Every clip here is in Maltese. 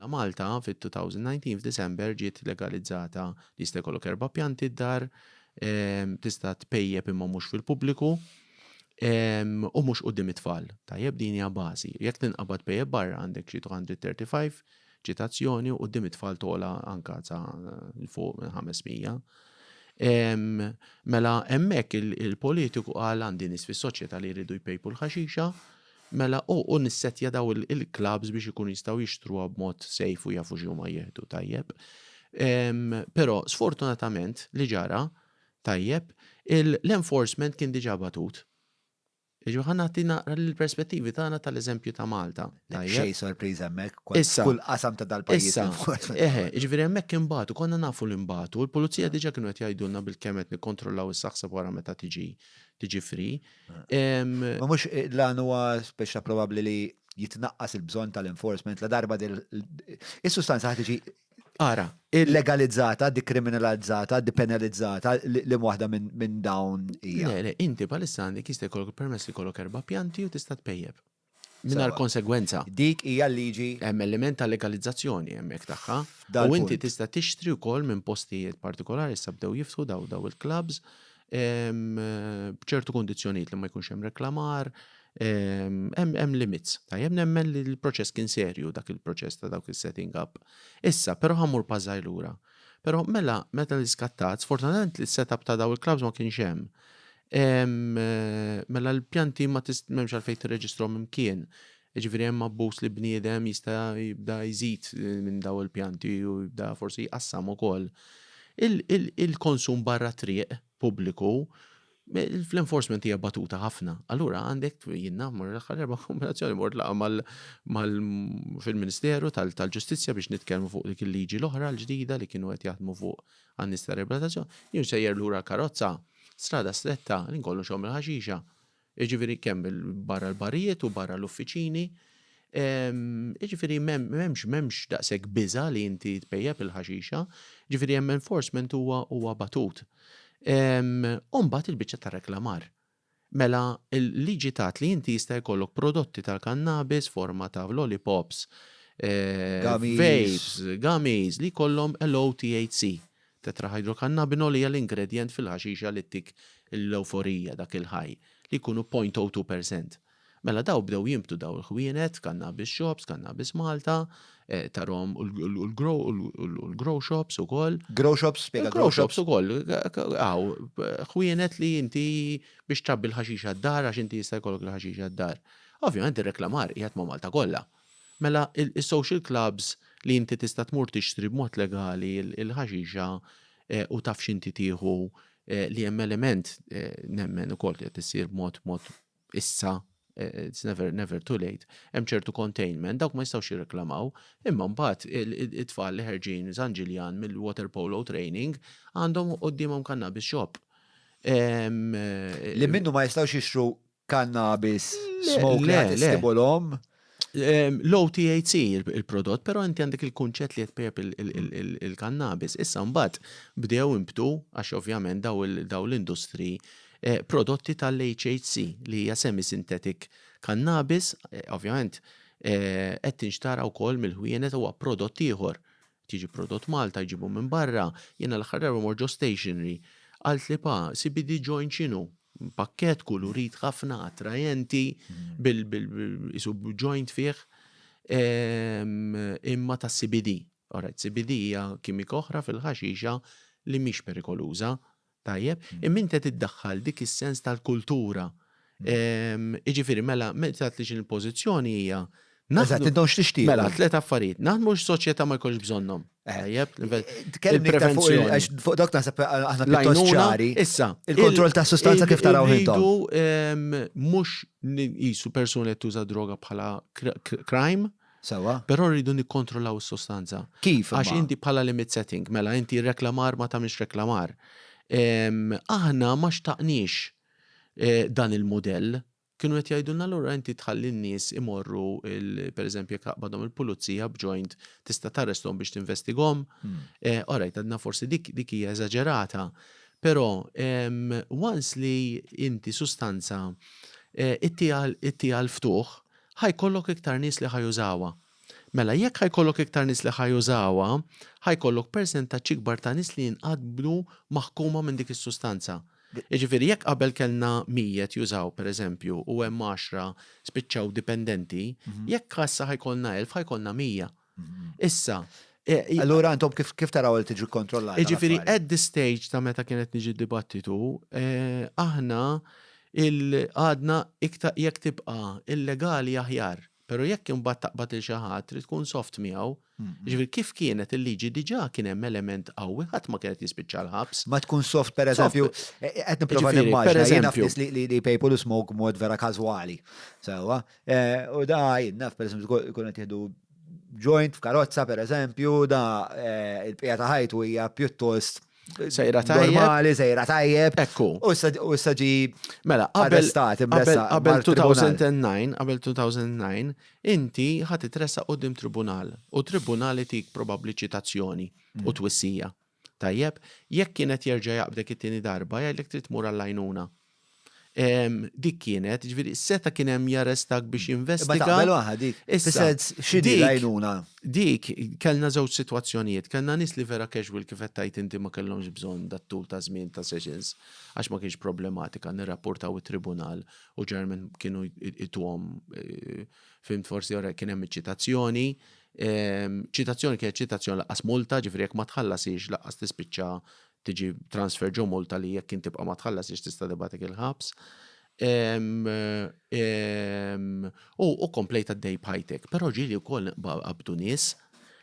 La Malta fit-2019 f'Disember ġiet legalizzata li jista' jkollok erba' pjanti d-dar, tista' tpejjep imma mhux fil-pubbliku u mhux quddiem it-tfal. Tajjeb din hija bażi. Jekk tinqabad tpejjep barra għandek xi 235 ċitazzjoni u quddiem it-tfal togħla anka sa l fuq minn 500. Mela hemmhekk il-politiku qal għandi nies fis-soċjetà li jridu jpejpu l-ħaxixa, Mela u u nissettja daw il il clubs biex ikunu jistgħu jixtruha b'mod safe u jafu x'huma jieħdu tajjeb. Ehm però sfortunatament li ġara tajjeb il l-enforcement kien diġà batut. Jiġifieri ħa nagħti naqra l-perspettivi tagħna tal-eżempju ta' Malta. Tajjeb. Xejn sorpriża hemmhekk kont Issa. f'kull qasam ta' dal-pajjiż Issa, l-enforcement. eħe, jiġifieri hemmhekk inbatu, konna nafu li nbatu, il-pulizija diġà kienu qed jgħidulna bilkemm qed nikkontrollaw is-saħseb wara meta tiġi tiġi free. Ma mhux l-għan huwa speċa probabbli li jitnaqqas il-bżonn tal-enforcement la darba dil is-sustanza ħad tiġi Ara, illegalizzata, dikriminalizzata, dipenalizzata li waħda minn dawn hija. Le, le, inti palissa għandek jista' jkollok permess li jkollok erba' pjanti u tista' tpejjeb. mingħajr konsegwenza. Dik hija l-liġi. Hemm element ta' legalizzazzjoni hemmhekk tagħha. U inti tista' tixtri wkoll minn postijiet partikolari, issa bdew jiftħu dawn il-klabbs, b'ċertu kundizzjonijiet li ma jkunx hemm reklamar, hemm limits. Tajjeb, nemmen li l-proċess kien serju dak il-proċess ta' dawk is-setting up. Issa, però ħa mmur pass żgħir lura. Però mela meta l-iskattat, sfortunatament l-setup ta' dawn il-klabbs ma kienx hemm. Mela l-pjanti ma m'hemmx għalfejn tirreġistrhom imkien. Ġifieri hemm abbuż li bniedem jista' jibda jżid eh, minn daw il-pjanti u jibda forsi jqassam ukoll. Il-konsum barra triq pubbliku fl-enforcement hija batuta ħafna. Allura għandek jinnna mar l-aħħar erba' kombinazzjoni mort laqa mal fil-Ministeru tal-Ġustizzja biex nitkellmu fuq dik il-liġi l-oħra l-ġdida li kienu qed jaħdmu fuq Għan-nies tar-riabilitazzjoni, jien sejjer lura l-karozza, strada stretta, li nkollu nxomm il-ħaxixa, jiġifieri kemm barra l-barijiet u barra l-uffiċini, jiġifieri m'hemmx daqshekk biża' li inti tpejjep il-ħaxixa, jiġifieri hemm enforcement huwa batut. U mbagħad il-biċċa tar-reklamar. Mela, il-liġi tgħid li inti jista' jkollok prodotti tal-kannabis forma ta' lollipops, vapes, gummies li jkollhom low THC. Tetrahydrocannabinol hija l-ingredjent fil-ħaxixa li ttik l-ewforija, dak il-high, li jkunu point o two per cent. Mela daw bdew jinbtu daw il-ħwienet, cannabis shops, cannabis Malta, eh, tarhom u l-grow shops ukoll. Grow shops, spiega grow shops ukoll. Aw, ħwienet li inti biex trabbi l-ħaxix għad-dar għax inti jista' jkollok l-ħaxix għad-dar. Ovvjament ir-reklamar qiegħed ma' Malta kollha. Mela il-social clubs li inti tista' tmur tixtri b'mod legali l-ħaxixa eh, u taf x'inti tieħu eh, li hemm element eh, nemmen ukoll qed issir b'mod mod issa it's never, never too late, hemm ċertu containment, dawk ma jistgħux jirreklamaw, imma mbagħad it-tfal li ħerġin San Ġiljan mill-water polo training għandhom qudiemhom kannabis shop. Li minnu ma jistgħux jixtru kannabis smoke li jistibulhom. Low THC il-prodott, pero inti għandek il-kunċett li jtpejab il-kannabis. Issa mbagħad bdew imbtu għax ovvjament daw l-industri eh, prodotti tal-HHC li hija semi-synthetic kannabis, eh, ovvjament eh, qed tinxtara wkoll mill-ħwienet huwa prodott ieħor Tiġi prodott Malta jġibu minn barra. Jiena l-aħħar darba mort ġo stationery qaltli pa, CBD joint x'inhu? Pakkett kulurit ħafna, attrajenti, bil qisu joint fih imma ta' CBD. Alright, CBD hija kimika oħra fil-ħaxixa li mhix perikoluża, Tajjeb, imma int qed iddaħħal dik is-sens tal-kultura. Jiġifieri mela meta tgħid li xi l-pożizzjoni hija Eżatt, intom x'tixtiequ. Mela, tliet affarijiet. Naħdmu x-soċjetà ma jkunx bżonnhom. Eh. Tajjeb, il-prevenzjoni. Fuq dok naħseb aħna pjuttost ċari. Issa. Il-kontroll ta' sustanza kif taraw intom. Mhux jisu persuni qed tuża droga bħala crime. Sewwa. Però rridu nikkontrollaw is-sostanza. Kif imma? Għax inti bħala limit setting, mela inti r-reklamar ma tagħmilx reklamar. Aħna ma xtaqniex dan il-mudell. Kienu qed jgħidulna allura inti tħalli n-nies imorru il pereżempju jekk taqbadhom il-pulizija b'joint tista' tarresthom biex tinvestigahom. All right, għadna forsi dik dik hija eżaġerata. Però once li inti sustanza ittieha l-ftuħ ħa jkollok iktar nies li ħa jużawha. Mela jekk ħa jkollok iktar nies li ħa jużawha, ħa jkollok persentaġġ ikbar ta' nies li jinqatblu maħkuma minn dik is-sustanza. Jiġifieri jekk qabel kellna mijiet jużaw, pereżempju, u hemm għaxra spiċċaw dipendenti, jekk ħa issa ħa jkollna elf ħa jkollna mija. Issa, Allura intom kif kif taraw li tiġi kontrollata? Jiġifieri at the stage ta' meta kienet niġi dibattitu, eh, aħna il-għadna iktar jekk tibqa' illegali aħjar. Però jekk imbagħad taqbad lil xi ħadd trid tkun soft miegħu. Jiġifieri kif kienet il-liġi diġà kien hemm element qawwi ħadd ma kienet jispiċċa l-ħabs. Ma tkun soft pereżempju, eh, qed nipprova Jiġifieri, nimmaġina jiena pereżempju. f'nies li li li jpejpu l-ismog mod vera każwali. Sewwa, U da jinnaf, per eżempju, jkun qed jieħdu joint f'karozza, per eżempju, da il-bqija ta' ħajtu hija pjuttost Sejra tajjeb. Normali, sejra tajjeb. Ekku. U s-saġi. Mela, qabel. Qabel 2009, qabel 2009, inti ħati tressa u dim tribunal. U tribunali tik probabli ċitazzjoni u twissija. Tajjeb, jekk kien qed jerġa' jaqbdek it-tieni darba, jgħidlek trid tmur għall-għajnuna. Dik kienet, ġifieri seta' kien hemm jarrestak biex jinvestiga. Imma taqbel waħda dik. Issa, x'inhi l-għajnuna? Dik, kellna żewġ sitwazzjonijiet. Kellna nies li vera casual kif qed tgħid inti ma kellhomx bżonn dat-tul ta' żmien ta' sessions għax ma kienx problematika, nirrapportaw it-tribunal u ġeneralment kienu jtuhom, fimt, forsi kien hemm iċ-ċitazzjoni, Ċitazzjoni kienet ċitazzjoni laqqas multa, ġifieri jekk ma tħallasiex laqqas tispiċċa tiġi transfer ġo multa li jekk kien tibqa' ma tħallasiex tista' tibgħatek il-ħabs. U komplejt għaddej bħajtek, però ġieli wkoll qabdu nies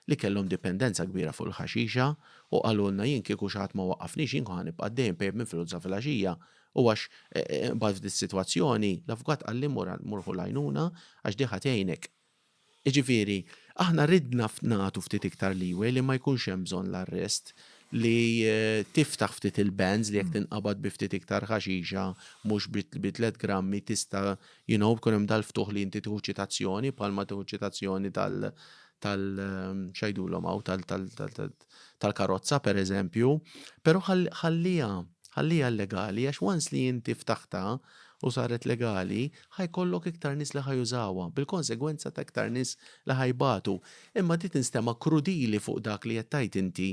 li kellhom dipendenza kbira fuq il-ħaxixa u qalulna jien kieku xi ħadd ma waqqafniex jien kont ħa nibqa' għaddej inpejjep minn filgħodu sa filgħaxija u għax imbagħad f'dis-sitwazzjoni l-avukat qalli mur ħu l-għajnuna għax di ħa tgħinek. Jiġifieri, aħna ridna nagħtu ftit iktar leeway li ma jkunx hemm bżonn l-arrest, li tiftaħ ftit il-bands li jekk tinqabad bi ftit iktar ħaxixa mhux bi tliet grammi tista' you know jkun hemm dal-ftuħ li inti tieħu ċitazzjoni bħalma tieħu ċitazzjoni tal-, x'għidulhom hawn, tal-karozza pereżempju, però ħalliha ħalliha legali għax once li inti ftaħtha u saret legali ħa jkollok iktar nies li ħa jużawha bil-konsegwenza ta' iktar nies li ħa jbatu. Imma di tinstema' krudili fuq dak li qed tgħid inti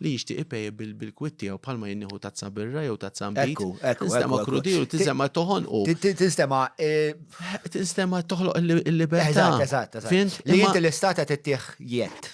li jixtieq ipay bil-kwitt tiegħu bħalma jien nieħu tazza birra jew tazza nbid. Tinstema' krudili u tinstema' toħonqu. Tinstema' Tinstema' toħloq il-libertà. Eżatt, eżatt, eżatt. Li inti l-istat qed ittih jedd.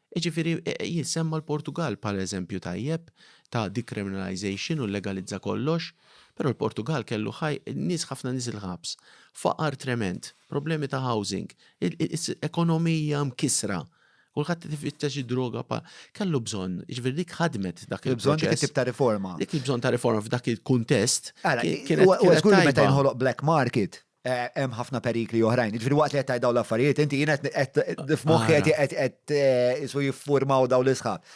Jiġifieri jissemma l-Portugall bħala eżempju tajjeb ta' decriminalization u llegalizza kollox, però l-Portugall kellu nies ħafna nies il-ħabs, faqar tremend, problemi ta' housing, ekonomija mkissra, kulħadd qed ifittex id-droga pa, kellu bżonn, jiġifieri dik ħadmet dak il-proċess. Il-bżonn dik it-tip ta' riforma. Dik il-bżonn ta' riforma f'dak il-kuntest. Ara, huwa żgur li meta jinħoloq black market, Eh, hemm ħafna perikli oħrajn. Ġifieri waqt li qed dawn l-affarijiet, inti jien qed f'moħħi qed qed eh, isu jiffurmaw dawn l-isħab.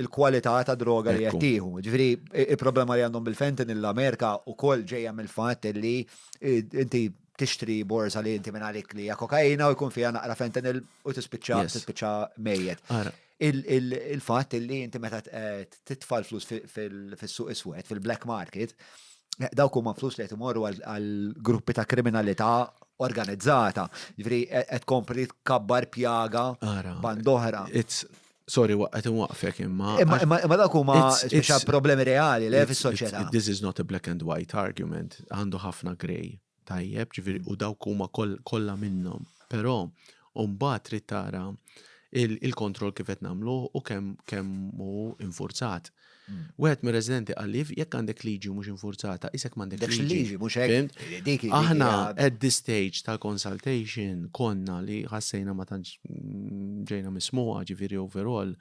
Il-kwalità ta' droga li qed tieħu. Ġifieri il-problema li għandhom bil-fentin l-Amerika wkoll ġejja mill-fatt li eh, inti tixtri borza li inti minn għalik li hija kokaina u jkun fiha naqra fentin u tispiċċa tispiċċa mejjet. Il-fatt li inti meta titfa' l-flus fis-suq iswed, fil-black market, dawk huma flus li qed imorru għal gruppi ta' kriminalità organizzata. Ġifieri qed tkompli tkabbar pjaga band oħra. Sorry, qed inwaqqfek imma. Imma dawk huma speċjal problemi reali li hemm fis-soċjetà. This is not a black and white argument, għandu ħafna gray. Tajjeb, ġifieri, u dawk huma kollha minnhom. Però mbagħad trid tara il-kontroll kif qed nagħmluh u kemm hu infurzat. Wieħed mir-residenti qal li jekk għandek liġi u mhux infurzata, isek m'għandekx liġi. Aħna at this stage tal-consultation konna li ħassejna ma tantx ġejna mismuha ġifieri overall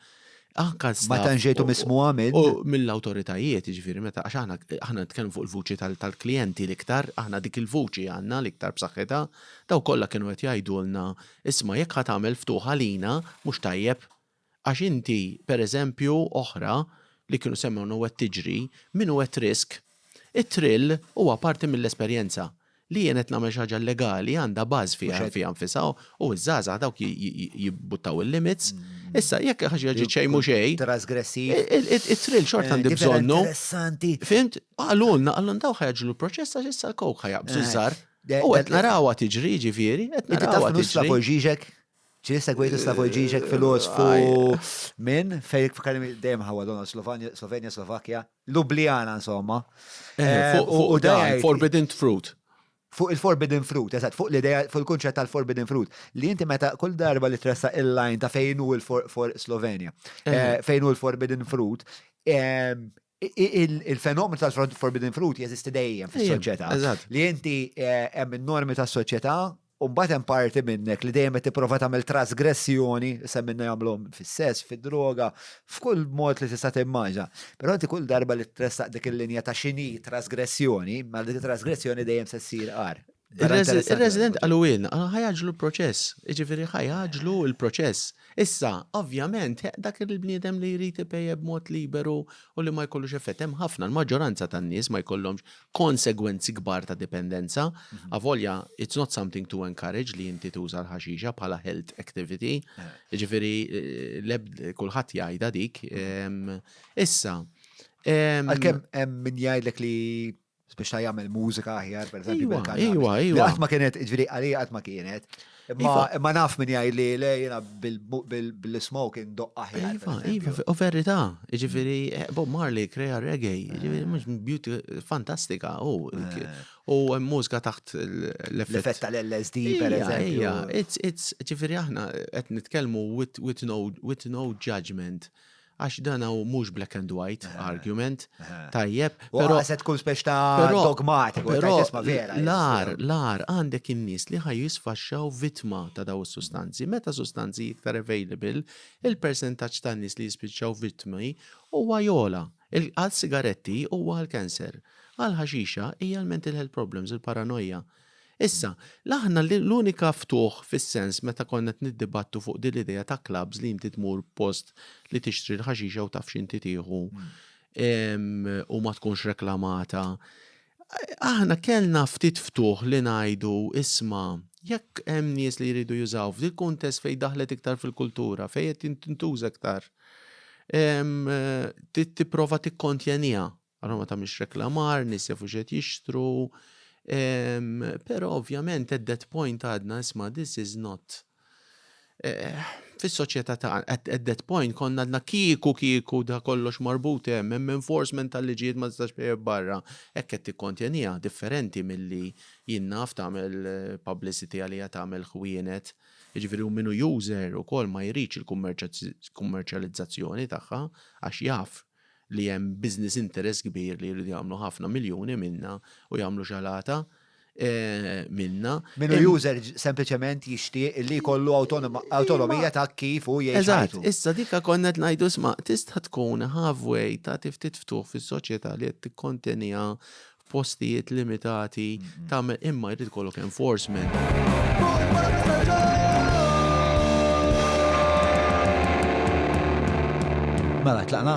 Anka Ma tantx ġejtu mismuha minn. U mill-awtoritajiet, jiġifieri meta għax aħna aħna nitkellmu fuq il-vuċi tal-klijenti l-iktar, aħna dik il-vuċi għandna l-iktar b'saħħitha, dawn kollha kienu qed jgħidulna, isma' jekk ħa tagħmel ftuħ għalina mhux tajjeb. Għax inti, pereżempju, oħra li kienu semmewna u qed tiġri, min hu at risk, it-thrill huwa parti mill-esperjenza. li jien qed nagħmel xi ħaġa illegali għandha bażi fiha nfisha u ż-żgħażagħ dawk jibbuttaw il-limits. Issa jekk ħaġa ġiet ġi xejn mhux xejn. Trasgressiv. It-trill xort eh, għandi bżonnu. Interessanti. Fimt? Qalulna, qalun daw ħajġlu l-proċess għax issa l-kowk ħajabżu eh, żar. U qed narawha tiġri ġifieri, qed narawha tiġri. Slavoj Ġiġek? ċi segwejtu Slavoj Ġiġek filosfu minn fejn f'kalim dejjem ħawa donna Slovenja, Slovakkja. Ljubljana insomma. Eh, fuq eh, fuq dan, forbidden fruit. Fuq il-forbidden fruit, eżatt, fuq l-idea, fuq il-kunċett tal-forbidden fruit, li inti meta kull darba li tressa il-line ta' fejn hu l-Slovenja, eh, eh. fejn hu l-forbidden fruit, ehm, il-fenomenu tal-forbidden fruit jeżisti dejjem fis-soċjetà. Li inti hemm normi tas-soċjetà U mbagħad hemm parti minnek li dejjem qed tipprova tagħmel trasgressjoni, issa minna jagħmluhom fis-sess, fid-droga, f'kull mod li tista' timmaġa. Però inti kull darba li tressaq dik il-linja ta' x'inhi trasgressjoni, ma dik trasgressjoni dejjem se ssir qar. Ir-resident qalu ilna, ah, ħajaġlu l-proċess, jiġifieri ħajaġlu l-proċess. Issa, ovvjament, dak il-bniedem li jrid ipejjeb mod liberu u li ma jkollux effett hemm ħafna, l-maġġoranza tan-nies ma jkollhomx konsegwenzi kbar ta' dipendenza, avolja it's not something to encourage li inti tuża l-ħaxixa bħala health activity, ġifiri kulħadd jgħidha dik. Issa. Għalkemm hemm min jgħidlek li biex ta' jagħmel mużika aħjar, per eżempju, bil-kanna. Iwa, iwa. Qatt ma kienet, ġifieri għalija qatt ma kienet. Imma naf min jgħid li le jiena bil-smoke indoq aħjar. Iva, iva, u verità, jiġifieri eh, Bob Marley krea reggae, jiġifieri mhux beauty fantastika u eh. u mużika taħt l-effett tal-LSD pereżempju. Ija, it's it's ġifieri aħna qed nitkellmu with no judgment. Għax dan hu mhux black and white eh, argument, eh. tajjeb. Però se tkun spex ta' dogmatik, però vera. L-ar, l-ar għandek in-nies li ħaj jisfaxxaw vittma ta' daw is-sustanzi. Meta sustanzi iktar available, il-persentaġġ ta' nies li jispiċċaw vittmi huwa jola. Għal sigaretti huwa għal kanser. Għal ħaxixa hija l-mental health problems, il-paranoja. il paranoja Issa, l-aħna l-unika ftuħ fis-sens meta konna qed niddibattu fuq din l-idea ta' clubs li inti tmur post li tixtri l-ħaxix jew taf x'inti tieħu u ma tkunx reklamata. Aħna kellna ftit ftuħ li ngħidu isma' jekk hemm nies li jridu jużaw f'dil kuntest fejn daħlet iktar fil-kultura, fejn qed tintuża iktar. Tipprova tikkontjaniha Allura ma tagħmilx reklamar, nies jafu x'qed jixtru. Ehm, però ovvjament at that point għadna isma' this is not eh, fis-soċjetà ta' at, at that point konna għadna kieku kieku da kollox marbut hemm, hemm enforcement tal-liġijiet ma tistax tejjeb barra. Hekk qed tikkonteniha differenti milli jien naf tagħmel eh, publicity għalija tagħmel ħwienet. Jiġifieri u minu user ukoll ma jridx il-kummerċjalizzazzjoni tagħha għax jaf li hemm business interest kbir li jridu jagħmlu ħafna miljuni minna u jagħmlu xalata eh, minna. Minu user sempliċement jixtieq li jkollu autonomija ta' kif u jgħix. Eżatt, issa dika konna qed ngħidu sma' tista' tkun halfway ta' tiftit ftuħ fis-soċjetà li qed tikkontenija postijiet limitati tagħmel imma jrid ikollok enforcement. Mela, tlaqna?